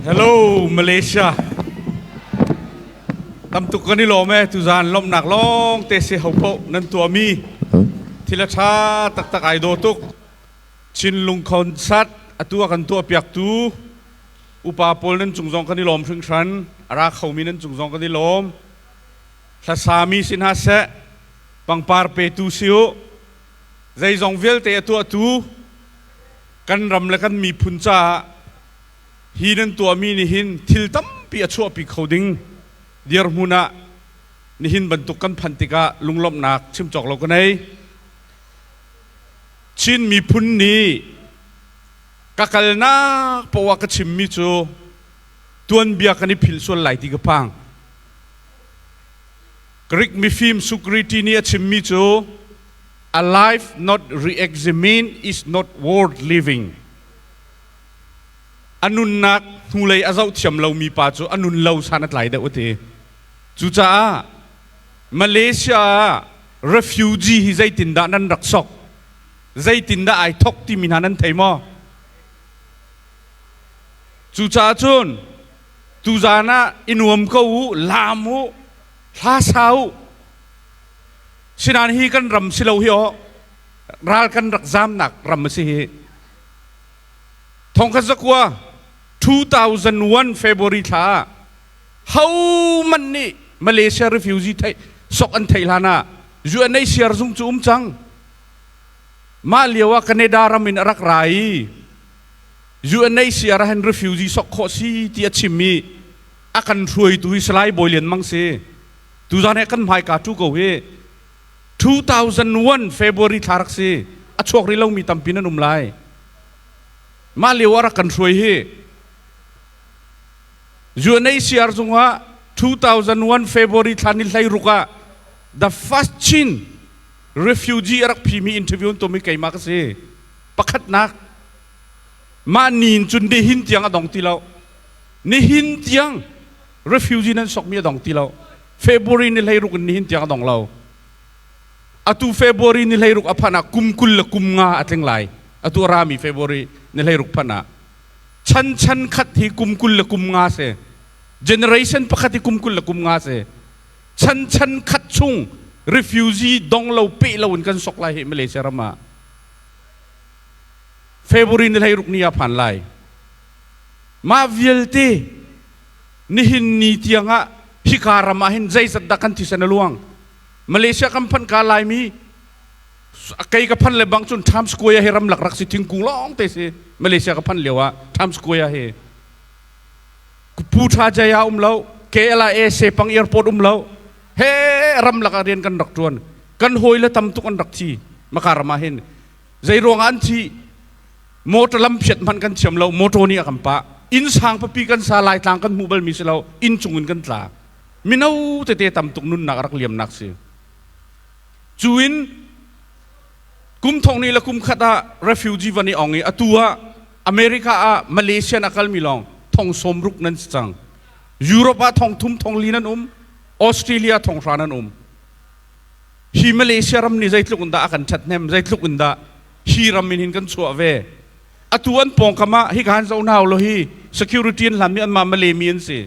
Hello Malaysia. Tamtuk kan i lawm e tuzan lawmnak lawng te se ho poh nan tuami thila tha taktak ai do tuk Chinlung concert atu a kan tuah piaktu upa pawl nan cung zong kan i lawm hringhran ara khomi nan cung zong kan i lawm thlasami si hna seh pangpar petu si u zeizong vialte a tuahtu kan ram le kan miphun caah hi nan tuahmi nih hin thil tampi a chuahpi kho ding dirhmun ah nihin bantuk kan phanh tikah lunglawmhnak chim cawk lo ka nei Chin miphun nih ka kalnak poah ka chimmi cu tuanbia kan i phil sual lai ti ka phang Greek mifim Socrates nih a chimmi cu a life not re-examined is not worth living. A nunnak hnulei a zoh thiam lomi pa cu a nun lo san a tlai deuh a ti. Cucaah Malaysia ah refugee hi zeitindah nan rak sok? Zeitindah ai thok timi hna nan thei maw? Cucaah cun tuzan ah i nuam ko u, laam u, hla sa u. Sinain hi kan ram si lo hi aw ral kan rak zamnak ram a si hi. Thongkhat zakua 2001 February thla ah ho man nih Malaysia refugee thei sok an thei hlan ah UNHCR zung cu um cang. Mah lio ah Canada ram in a rak ra i UNHCR ah hin refugee sok khawh si ti a chim i a kan hruaitu hi Salai Bawi Lian Mang si. Tuzaan he kan hmaika tu ko hi 2001 February thla rak si. A chuak rih lomi tampi nan um lai. Mah lio ah rak kan hruai hi UNHCR zungah 2001 February thla ni hlei ruk ah the first Chin refugee a rak phimi interview tu mi keima ka si. Pakhatnak mah niin cun dehin tiang a dong ti lo. Nihin tiang refugee nan sokmi a dong ti lo. February ni hleiruk in nihin tiang a dong lo. Atu February ni hleiruk a phanh ah kum kul le kum nga a tling lai. Atu a rami February ni hleiruk phanh ah. Chan chan khat hi kum kul le kum nga si. Generation pakhat hi kum kul le kum nga si. Chan chan khat chung refugee dong lo peh lo in kan sok lai hi Malaysia ram ah. February ni hleiruk ni a phan lai. Mah vialte nihin ni tiangah hika ram ah hin zeizat dah kan thisen a luang. Malaysia kan phanh ka laimi kei ka phan le bang cun Times Square hi ramlak rak si thingkung lawng te si Malaysia ka phan lio ah Times Square hi Pu Tha Jaya um lo KLIA pang airport um lo he ramlak ah rian kan rak tuan kan hawi le tam tuk an rak thi maka ram ah hin Zeiruangah an thih? Motor lampiat hmanh kan thiam lo, motor nih a kan pah. Inn sang papi kan sa, Laitlang kan hmu balmi si lo, inn cung in kan tla. Mino tete tam tuk nunnak a rak liamnak si. Cu in kum thong ni le kum khat ah refugee van i ong i atu ah America ah Malaysia in a kalmi lawng thong sawm ruk nan si cang. Europe ah thong thum thong li nan um, Australia thong hra nan um. hi Malaysia ram nih zeitluk in dah a kan ṭhathnem zeitluk in dah hi ram in hin kan chuah ve atu an pawngkam ah hi kan zoh hna lo hi security an hlanmi anmah Malemi an si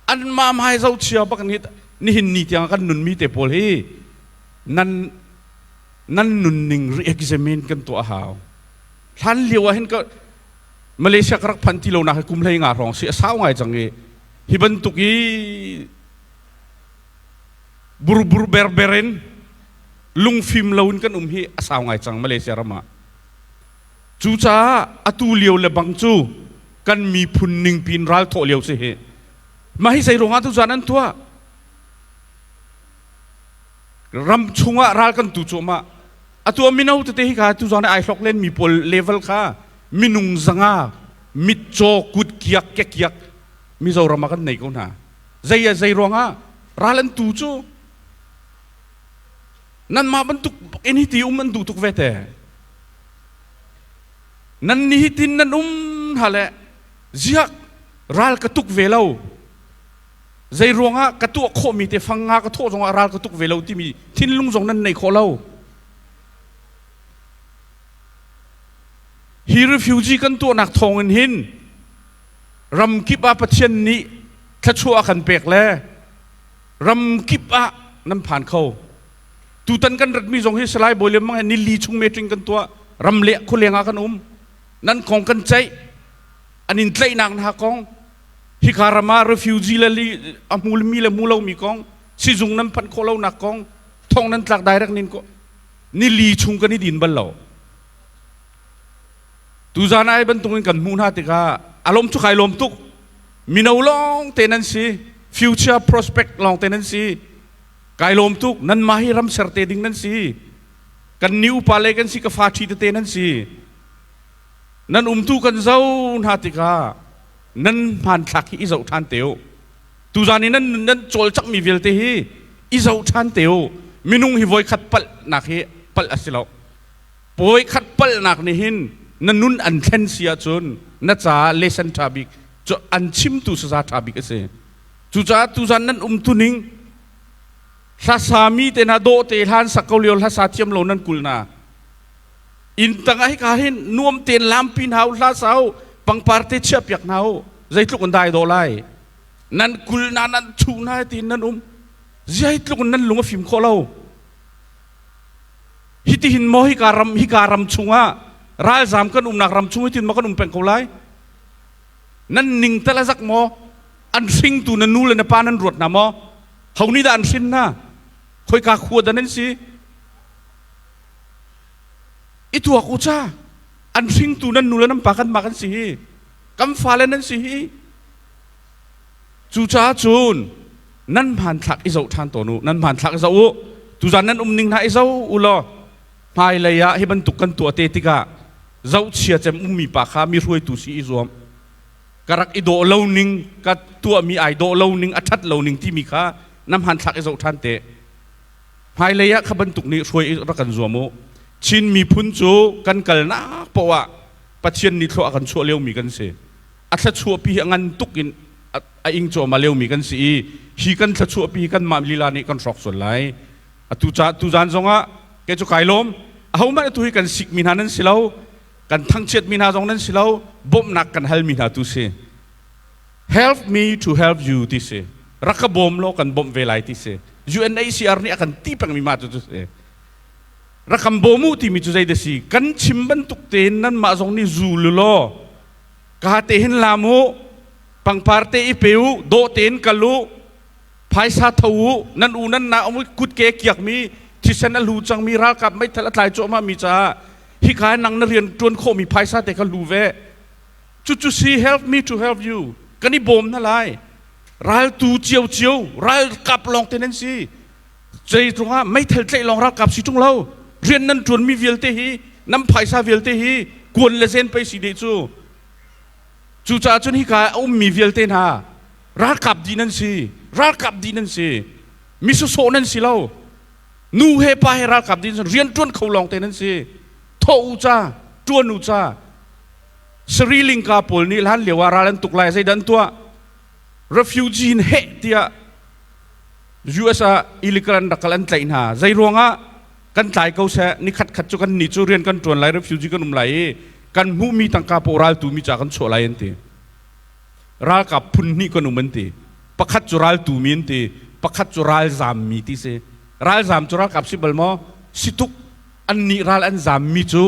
anmah hmai zohchia bak ni nihin ni tiang kan nunmi te pawl hi nan nan nunning re-examine kan tuah hau hlan lio ah hin ka Malaysia ka rak phan ti lo nak hi kum hlei nga hrawng si a sau ngai cang i hi bantuk i burbur berber in lungfim loin kan um hi a sau ngai cang Malaysia ram ah cucaah atu lio le bang cu kan miphun ningpi in ral thawh lio si hi mah hi zei ruangah tu zan an tuah ram chungah ral kan tu cuahmah atu mino tete hi ka tu zan ai hlok len mi pawl level kha minung zanga mitcaw kutkiak kekiak mizoram ah kan nei ko hna Zei a zei ruangah ral an tu cu nanmah bantuk in hiti um an duh tuk ve te nan nihin nan um hna le ziak ral ka tuk ve lo zei ruangah ka tuah khawhmi te fanga ka thawh zongah ral ka tuk ve lo timi thinlung zong nan nei khawh lo hi refugee kan tuahnak thawng in hin ramkip ah Pathian nih thluachuah a kan pek le ramkip ah nan phan kho. Tutan kan ratmi zong hi Salai Bawi Lian Mang he nili chung meetling kan tuah. Ram le khualeng ah kan um. Nan kong kan ceih. An in tlaihnak hna kong. Hika ram ah refugee le li, a mulmi le mulomi kong. Sizung nan phanh khawh lonak kong. Thong nan tlak direct nin ko. Nili chung kan i din bal lo. Tuzan ai bantukin kan hmuh hna tikah a lawm cu kai lawm tuk. Mino lawng te nan si, future prospect lawng te nan si. Kai lawm tuk, nanmah hi ram ser te ding nan si. Kan ni upale kan si, ka fa ṭhi tete nan si. Nan umtu kan zo hna tikah nan hmanthlak hi i zoh ṭhan te u. Tuzan i nan nan cawlcangmi vialte hi i zoh ṭhan te u. Minung hi voikhat palhnak hi palh a si lo. Puai khat palhnak nih hin na nun an thlen si ahcun na caah lesson ṭha bik cu an chimtu sasa ṭha bik a si. Cucaah tuzan nan umtuning hlasami te na dawhte hlan sak ko lio hlasa thiam lo nan kul na inn tangah hika hin nuam tein lampi hna u hla sa u pangpar te chiah piak hna u zeitluk in dai dawh lai nan kul na nan chuh na tiin nan um zeitluk in nan lung a fim khawh lo Hitihin maw hika ram hika ram chungah ralzam kan umnak ram chung hitin maw kan um peng ko lai? Nan ning tal azak maw? An hringtu na nu le na pa nan ruat na maw? Honi dah an hrin na? Khoika khua da nan si? I tuak u cha. An hringtu nan nu le nan pa kan ma kan si hi. Kan fale nan si hi. Cucaah cun nan hmanthlak i zoh ṭhan tawn u, nan hmanthlak i zoh u. Tuzan nan um ning hna i zoh u law hmailei ah hi bantuk kan tuah te tikah zohchia cem ummi pa kha mi hruaitu si i zuam. Ka rak i dawh lo ning, ka tuahmi ai dawh lo ning, a ṭhat lo ning timi kha na hmanthlak i zoh ṭhan te. Hmailei ah kha bantuk nih hruai i rak kan zuam u. Chin miphun cu kan kalnak paoh ah Pathian nih thlua a kan chuah liomi kan si. a thluachuahpi a ngan tuk in a, a ing cuahmah liomi kan si i hi kan thluachuahpi hi kanmah lila nih kan hrawk sual lai atu ca tuzaan zongah kei cu kai lawm ahohmanh atu hi kan sikmi hna nan si lo kan thangchiatmi hna zong nan si lo bawmhnak kan halmi hna tu si help me to help you ti si rak ka bawm law kan bawmh ve lai ti si UNHCR nih a kan ti pengmi ma tu si rak kan bawm u timi cu zei da si kan chim bantuk tein nanmah zong nih zul u law ka te hin lam u pangpar te i pe u dawh tein kal u phaisa tho u nan u nan na um u kutke kiak mi thisen a lu cang mi ralkap meithal a tlai cuahmah mi caah hika nang na rian tuan khawh mi phaisa te kha lu ve cu cu see help me to help you kan i bawm na lai ral tu cio cio ral kap lawng te nan si Zeitlung ah meithal tlaih lawng ralkap si ṭung lo rian nan ṭuanmi vialte hi nan phaisa vialte hi kuan le zen pei si de cu cucaah cun hika a ummi vialte hna ralkap di nan si ralkap di nan si misosawh nan si lo nu he pa he ralkap din rian ṭuan kho lawng te nan si thawh u ca ṭuan u ca sari lingka pawl nih hlan lio ah ral an tuk lai zeidan tuah refugee in heh tiah US ah illegal rak kal an tlaih hna zei ruangah kan tlai ko seh ni khat khat cu kan ni cu rian kan ṭuan lai refugee kan um lai i kan hmuhmi tangka rawltu mi ca kan chuah lai an ti ralkap phun hnih kan um an ti pakhat cu raltu mi an ti pakhat cu ralzam mi ti si ralzam cu ralkap si bal maw situk an nih ral an zam mi cu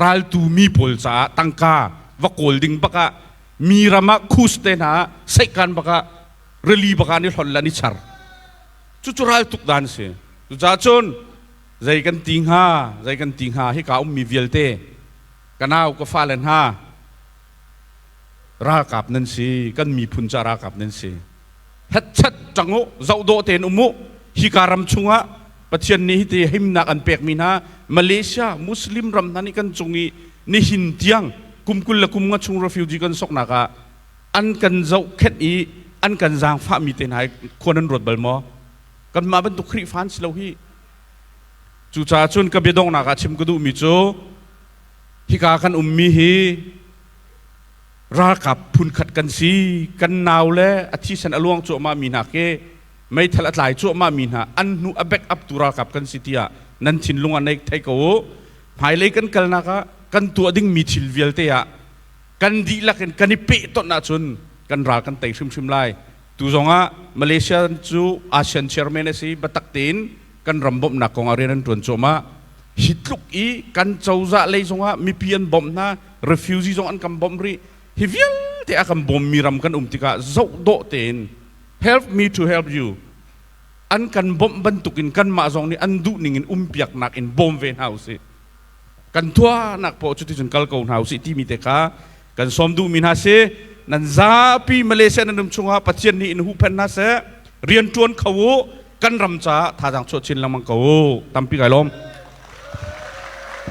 raltu mi pawl caah tangka va kawl ding bakah mi ram ah khus te hna seihkan bakah rili bagan i hlon lan i char cucu raltuk dan si cucaah cun zei kan ti hnga zei kan ti hnga hika ummi vialte ka nau ka fale hna ralkap nan si kan miphun ca ralkap nan si hetchet ṭangu zohdawh tein umu hika ram chungah pathian nih hiti himnak an pekmi hna malaysia muslim ram hna nih kan cung i nihin tiang kumkul le kum nga chung refugee kan soknak ah an kan zohkhenh i an kan zaangfahmi te hna hi khua nan ruat bal maw kanmah bantuk Khrihfa an si lo hi cucaah cun ka biadongnak ah chim ka duhmi cu hika kan ummi hi ralkap phunkhat kan si kan nau le a thisen a luang cuahmah mi hna ke meithal a tlai cuahmah mi hna an hnu a back up tu ralkap kan si tiah nan thinlung ah neik thei ko u hmailei kan kalnak ah kan tuah dingmi thil vialte ah kan dihlak in kan i pehtonh ahcun kan ral kan tei hrimhrim lai. Tu zongah Malaysia cu ASEAN chairman a si biatak tein kan ram bawmhnak kongah rian an ṭuan cuahmah. Hi tluk i kan cozah lei zongah mipi an bawmh hna, refugee zong an kan bawmh rih. Hi vialte a kan bawmmi ram kan um tikah zohdawh tein help me to help you an kan bawmh bantukin kanmah zong nih an duhning in umpiaknak in bawm ve hna usih. kan thuahnak paoh cu ticun kal ko hna usih timi te kha kan sawm duhmi hna si nan zapi Malaysia nan ram chungah Pathian nih in huhphenh hna seh rian ṭuan kho u kan ram caah thazaang chuah chin lengmang ko u tampi kai lawm